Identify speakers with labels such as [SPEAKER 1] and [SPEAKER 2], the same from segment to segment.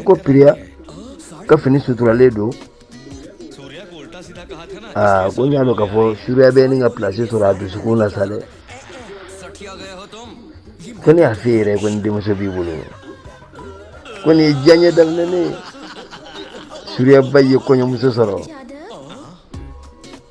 [SPEAKER 1] ko piriya ka fini suturalen don aa ko n y'a dɔn k'a fɔ suriya bɛ nin ka pilasi sɔrɔ a dusukun na sa dɛ ko ne y'a f'e yɛrɛ ko ni denmuso b'i bolo ko nin ye diyaɲɛ daminɛ ne ye suriya ba ye kɔɲɔmuso sɔrɔ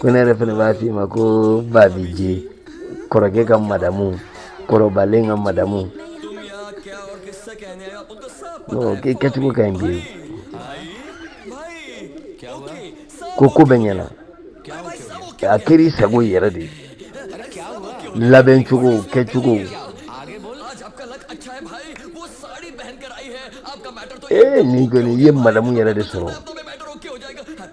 [SPEAKER 1] ko ne yɛrɛ fɛnɛ b'a f'i ma ko babiji kɔrɔkɛ ka madamu kɔrɔbalen ka madamu k'i kɛcogo ka ɲi bi ko ko bɛɛ ɲɛna a kɛra i sago yɛrɛ de ye labɛn cogo kɛcogo ee nin kɔni i ye madamu yɛrɛ de sɔrɔ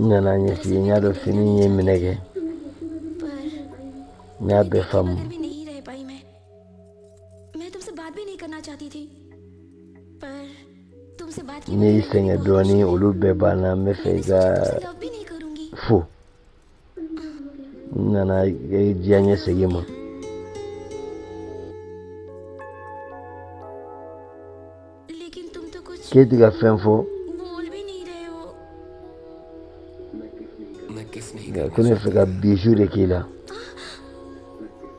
[SPEAKER 1] N nan'a ɲɛf'i ye n y'a dɔn fini in ye minɛ kɛ n y'a bɛɛ faamu ne y'i sɛgɛn dɔɔnin olu bɛɛ banna n b'a fɛ i k'a fɔ n nana diyaɲɛ segin i ma k'e ti ka fɛn fɔ ko ne fɛ ka biju de k'i la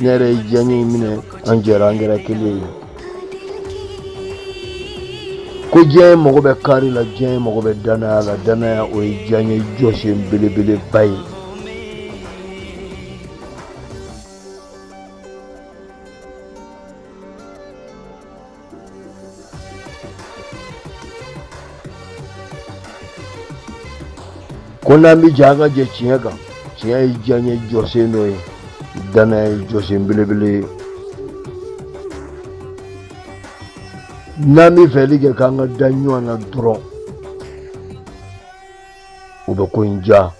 [SPEAKER 1] Ne yɛrɛ ye diyaɲɛ in minɛ an jɛra an kɛra kelen ye ko diyaɲɛ mago bɛ kari la diyaɲɛ mago bɛ danaya la danaya o ye diyaɲɛ jɔsen belebeleba ye ko n'an bɛ jɛ an ka jɛ tiɲɛ kan tiɲɛ ye diyaɲɛ jɔsen dɔ ye danaya ye jɔsen belebele ye n'an bɛ fɛli kɛ k'an ka da ɲɔgɔn na dɔrɔn o bɛ ko in diya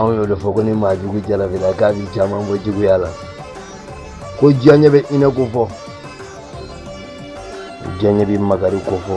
[SPEAKER 1] anw y'o de fɔ ko ni maa jugu jarabila k'a bɛ caman bɔ juguya la ko diyaɲɛ bɛ hinɛ kofɔ diyaɲɛ bɛ makari kofɔ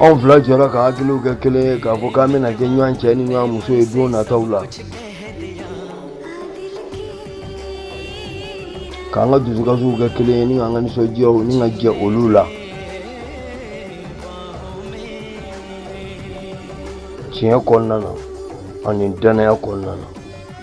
[SPEAKER 1] anw fila jɔra ka hakiliw kɛ kelen ye k'a fɔ k'an bɛna kɛ ɲɔgɔn cɛ ni ɲɔgɔn muso ye don nataw la k'an ka dusukasiw kɛ kelen ye ni k'an ka nisɔndiyaw ni ka jɛ olu la tiɲɛ kɔnɔna na ani dannaya kɔnɔna na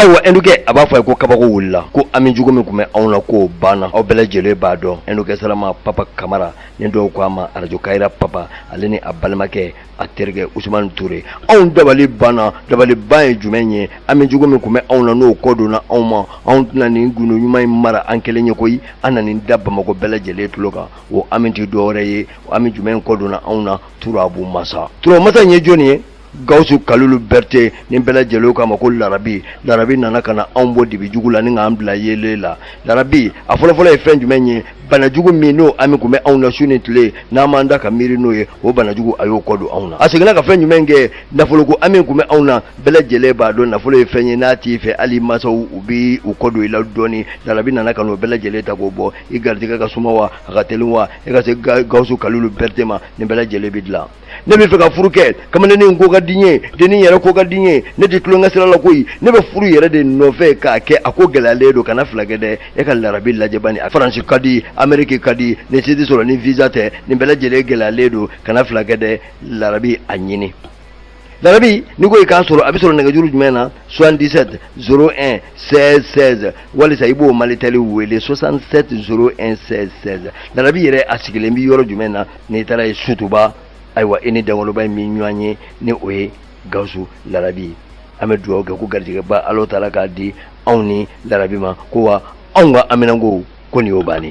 [SPEAKER 1] ayiwa n dɔgɔkɛ a b'a fɔ ye ko kabako wulila ko hami jugu min tun bɛ anw na k'o banna aw bɛɛ lajɛlen b'a dɔn n dɔgɔkɛ salama papa kamara ni dɔw ko a ma arajo kayira papa ale ni a balimakɛ a terikɛ usumani ture anw dabali banna dabaliban ye jumɛn ye hami jugu min tun bɛ anw na n'o kɔ donna anw ma anw tɛna nin gundo ɲuman in mara an kelen ye koyi an na nin da bamakɔ bɛɛ lajɛlen tulo kan o hami tɛ dɔwɛrɛ ye hami jumɛn kɔ donna anw na turabu masa turabu masa in ye jɔni ye gawusu kalilu bɛrite ni bɛɛ lajɛlen k'a ma ko larabi larabi nana ka na anw bɔ dibi jugu la ni k'an bila yeelen la larabi a fɔlɔfɔlɔ ye fɛn jumɛn ye banajugu min n'o hami tun bɛ anw na su ni tile n'an b'an da ka miiri n'o ye o banajugu a y'o kɔ don anw na a seginna ka fɛn jumɛn kɛ nafoloko hami tun bɛ anw na bɛɛ lajɛlen b'a dɔn nafolo ye fɛn ye n'a t'i fɛ hali i mansaw u bi u kɔ don i la dɔɔni larabi nana ka n'o bɛɛ lajɛlen ta k'o bɔ i garijɛgɛ ka suma wa a ka teli wa e ka se gawusu kalilu bɛrite ma nin bɛɛ lajɛlen bɛ dilan ne bɛ fɛ ka furu kɛ kamalennin ko ka di n ye dennin yɛrɛ ko ka di n ye ne tɛ tulonkɛ sira la koyi ne bɛ furu yɛrɛ de nɔfɛ k'a kɛ a ko gɛlɛyalen don kana fila kɛ dɛ e ka larabi lajɛ bani a faransi ka di ameriki ka di nin si tɛ sɔrɔ ni visa tɛ nin bɛɛ lajɛlen gɛlɛyalen don kana fila kɛ dɛ larabi a ɲini larabi n'i ko i k'a sɔrɔ a bɛ sɔrɔ nɛgɛjuru jumɛn na 77 01 16 16 walisa i b'o malitɛli wele 67 01 16 16 larabi yɛrɛ a sigilen bɛ yɔrɔ jumɛn na n'i taara yen sotuba ayiwa i ni dankɔrɔba in bɛ ɲɔgɔn ye ni o ye gawusu larabi ye an bɛ dugawu kɛ ko garijɛgɛba ala taala k'a di anw ni larabi ma ko wa anw ka haminanko ko nin y'o bannen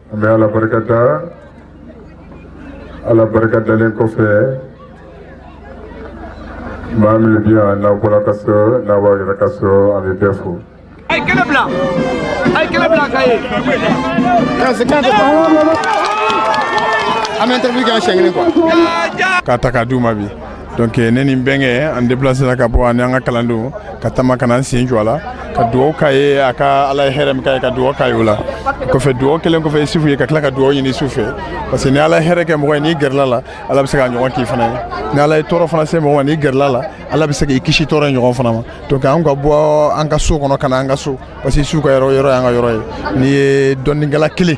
[SPEAKER 1] An bɛ Ala barika da, Ala barika dalen kɔfɛ, maa minnu bɛ yan n'aw bɔra ka so n'aw b'aw yɛrɛ ka so an bɛ bɛɛ fo. A ye kɛnɛ bila, a ye kɛnɛ bila k'a ye. An bɛ interview kɛ yan siɲɛ kelen quoi. K'a ta k'a d'u ma bi. donc eh, ne ni n bɛnkɛ an depilasera ka bɔ ani an ka kalandenw ka taama ka na an sen jɔ a la ka dugawu k'a ye a ka ala ye hɛrɛ min k'a ye ka dugawu k'a ye o la kɔfɛ dugawu kɛlen kɔfɛ isufu ye ka tila ka dugawu ɲini isufu fɛ parce que ni ala ye hɛrɛ kɛ mɔgɔ ye n'i gɛrɛla a la ala bɛ se k'a ɲɔgɔn k'i fana ye ni ala ye tɔɔrɔ fana se mɔgɔ ma n'i gɛrɛla a la ala bɛ se k'i kisi tɔɔrɔ ye ɲɔgɔn fana ma donc an ka bɔ an ka so kɔnɔ ka na an ka so parce que isufu ka yɔrɔ yɔrɔ y'an ka yɔrɔ ye n'i ye dɔnnikɛla kelen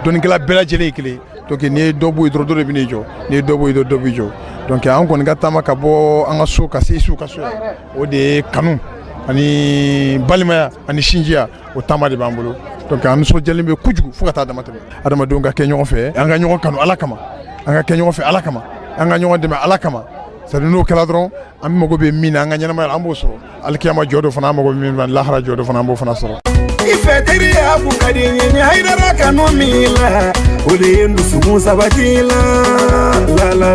[SPEAKER 1] dɔnnikɛla bɛɛ lajɛlen ye kelen donc n'i ye dɔ bɔ yen dɔrɔn dɔ de bɛn'i jɔ n'i ye dɔ bɔ yen dɔrɔn dɔ b'i jɔ donc an kɔni ka taama ka bɔ an ka so ka se isufu ka so o de ye kanu ani balimaya ani sinjiya o taama de b'an bolo donc an nisɔndiyalen bɛ kojugu fo ka taa damatɛmɛ adamadenw ka kɛ ɲɔgɔn fɛ an ka ɲɔgɔn kanu ala kama an ka kɛ ɲɔgɔn fɛ ala kama an ka ɲɔgɔn dɛmɛ ala kama sabu n'o kɛra dɔrɔn an mago bɛ min na an ka ɲɛnamaya la an b'o sɔrɔ alikiyama jɔ don fana an mago bɛ min fana lahara jɔ don fana an b'o fana sɔrɔ i fɛ teriya kun ka di n ye ni hayidara kanu min la o de ye n dusukun sabati la ala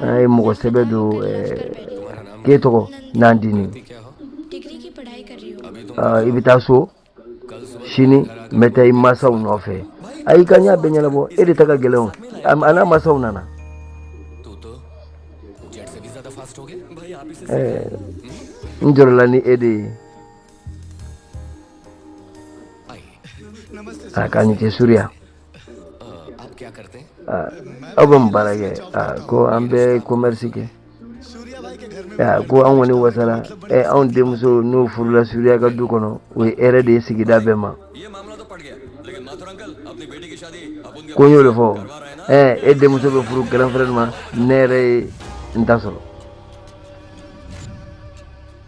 [SPEAKER 1] an ye mɔgɔ sɛbɛ don ke tɔgɔ n'an dini i bɛ taa so sini n bɛ taa i mansaw nɔfɛ a y'i ka ɲɛ bɛɛ ɲɛnabɔ e de ta ka gɛlɛn an n'a mansaw nana n jɔrɔla ni e de ye a k'a ni ce suruya aw bɛ mun baara kɛ ko an bɛ komɛrisi kɛ ko an kɔni wasala anw denmuso n'o furula suruya ka du kɔnɔ o ye hɛrɛ de ye sigida bɛɛ ma ko n y'o de fɔ e denmuso bɛ furu grand frère de ma ne yɛrɛ ye n ta sɔrɔ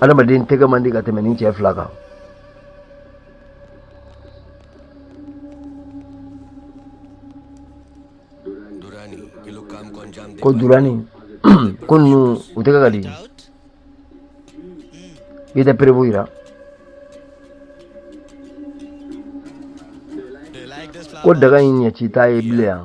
[SPEAKER 1] adamaden tɛgɛ man di ka tɛmɛ ni cɛ fila kan ko durani ko ninnu u tɛgɛ ka di i tɛ preuve yira ko daga in ɲɛci t'a ye bilen yan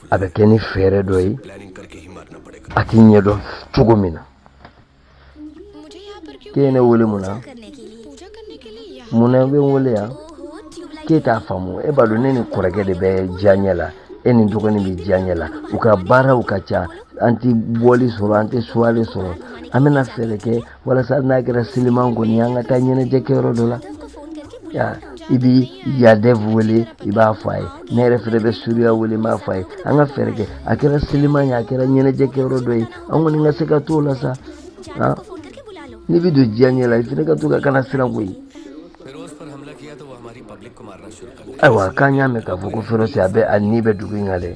[SPEAKER 1] a bɛ kɛ ni fɛɛrɛ dɔ ye a t'i ɲɛdɔn cogo min na k'e ye ne wele mun na mun na i bɛ n wele yan k'e t'a faamu e b'a dɔn ne ni kɔrɔkɛ de bɛ diyaɲɛ la e ni dɔgɔnin bɛ diyaɲɛ la u ka baaraw ka ca an tɛ bɔli sɔrɔ an tɛ soirée sɔrɔ an bɛna fɛɛrɛ kɛ walasa hali n'a kɛra siliman kɔni an ka taa ɲɛnajɛ kɛyɔrɔ dɔ la i bi yadɛf wele i b'a fɔ a ye ne yɛrɛ fɛnɛ bɛ suruya wele n b'a fɔ a ye an ka fɛɛrɛ kɛ a kɛra siliman ye a kɛra ɲɛnajɛ kɛyɔrɔ dɔ ye an kɔni ka se ka t'o la sa n'i bi don diyaɲɛ la i fɛnɛ ka to ka kana siran koyi ayiwa k'an y'a mɛn k'a fɔ ko ferosi a bɛ a ni bɛ dugu in kan dɛ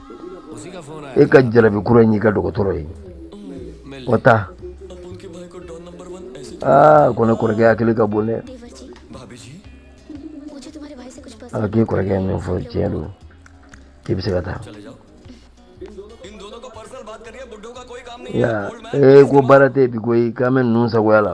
[SPEAKER 1] e ka jarabi kura in y'i ka dɔgɔtɔrɔ ye o ta aa ko ne kɔrɔkɛ hakili ka bon dɛ a k'i kɔrɔkɛ min fɔ tiɲɛ don k'i bɛ se ka taa ya ee ko baara tɛ bi koyi k'an bɛ ninnu sagoya la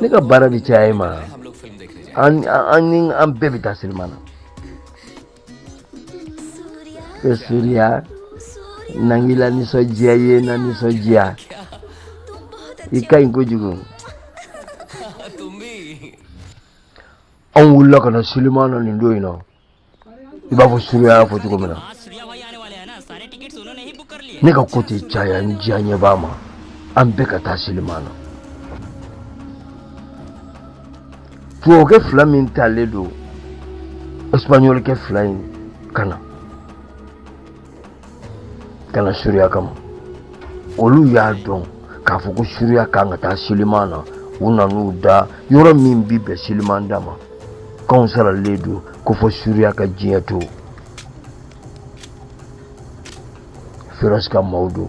[SPEAKER 1] ne ka baara de caya e ma an bɛɛ bɛ taa sinima na e suriya nangila nisɔndiya ye na nisɔndiya i ka ɲi kojugu anw wulila ka na siliman na nin don in na i b'a fɔ suruya y'a fɔ cogo min na ne ka ko tɛ caya n diyaɲɛ b'a ma an bɛɛ ka taa siliman na tubabukɛ fila min talen don espagnolkɛ fila in ka na ka na suruya kama olu y'a dɔn k'a fɔ ko suruya kan ka taa siliman na u nan'u da yɔrɔ min bi bɛn siliman da ma k'anw saralen don ko fɔ suruya ka diɲɛ to ferosi ka maaw don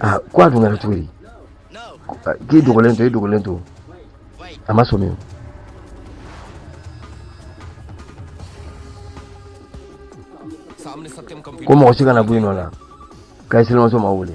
[SPEAKER 1] aa ah, ko a dun kɛra cogo di ah, k'i dogolen to i dogolen to a ma sɔmi o ko mɔgɔ si kana bɔ i nɔ la k'a ye selimamuso ma wele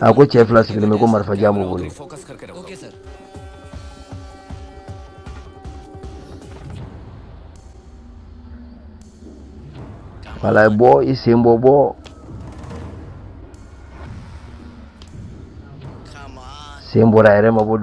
[SPEAKER 1] a ko cɛ fila sigilen bɛ ko marifa jan b'u bolo wala ye bɔ i sen bɔ bɔ sen bɔra a yɛrɛ mabɔ dɔɔnin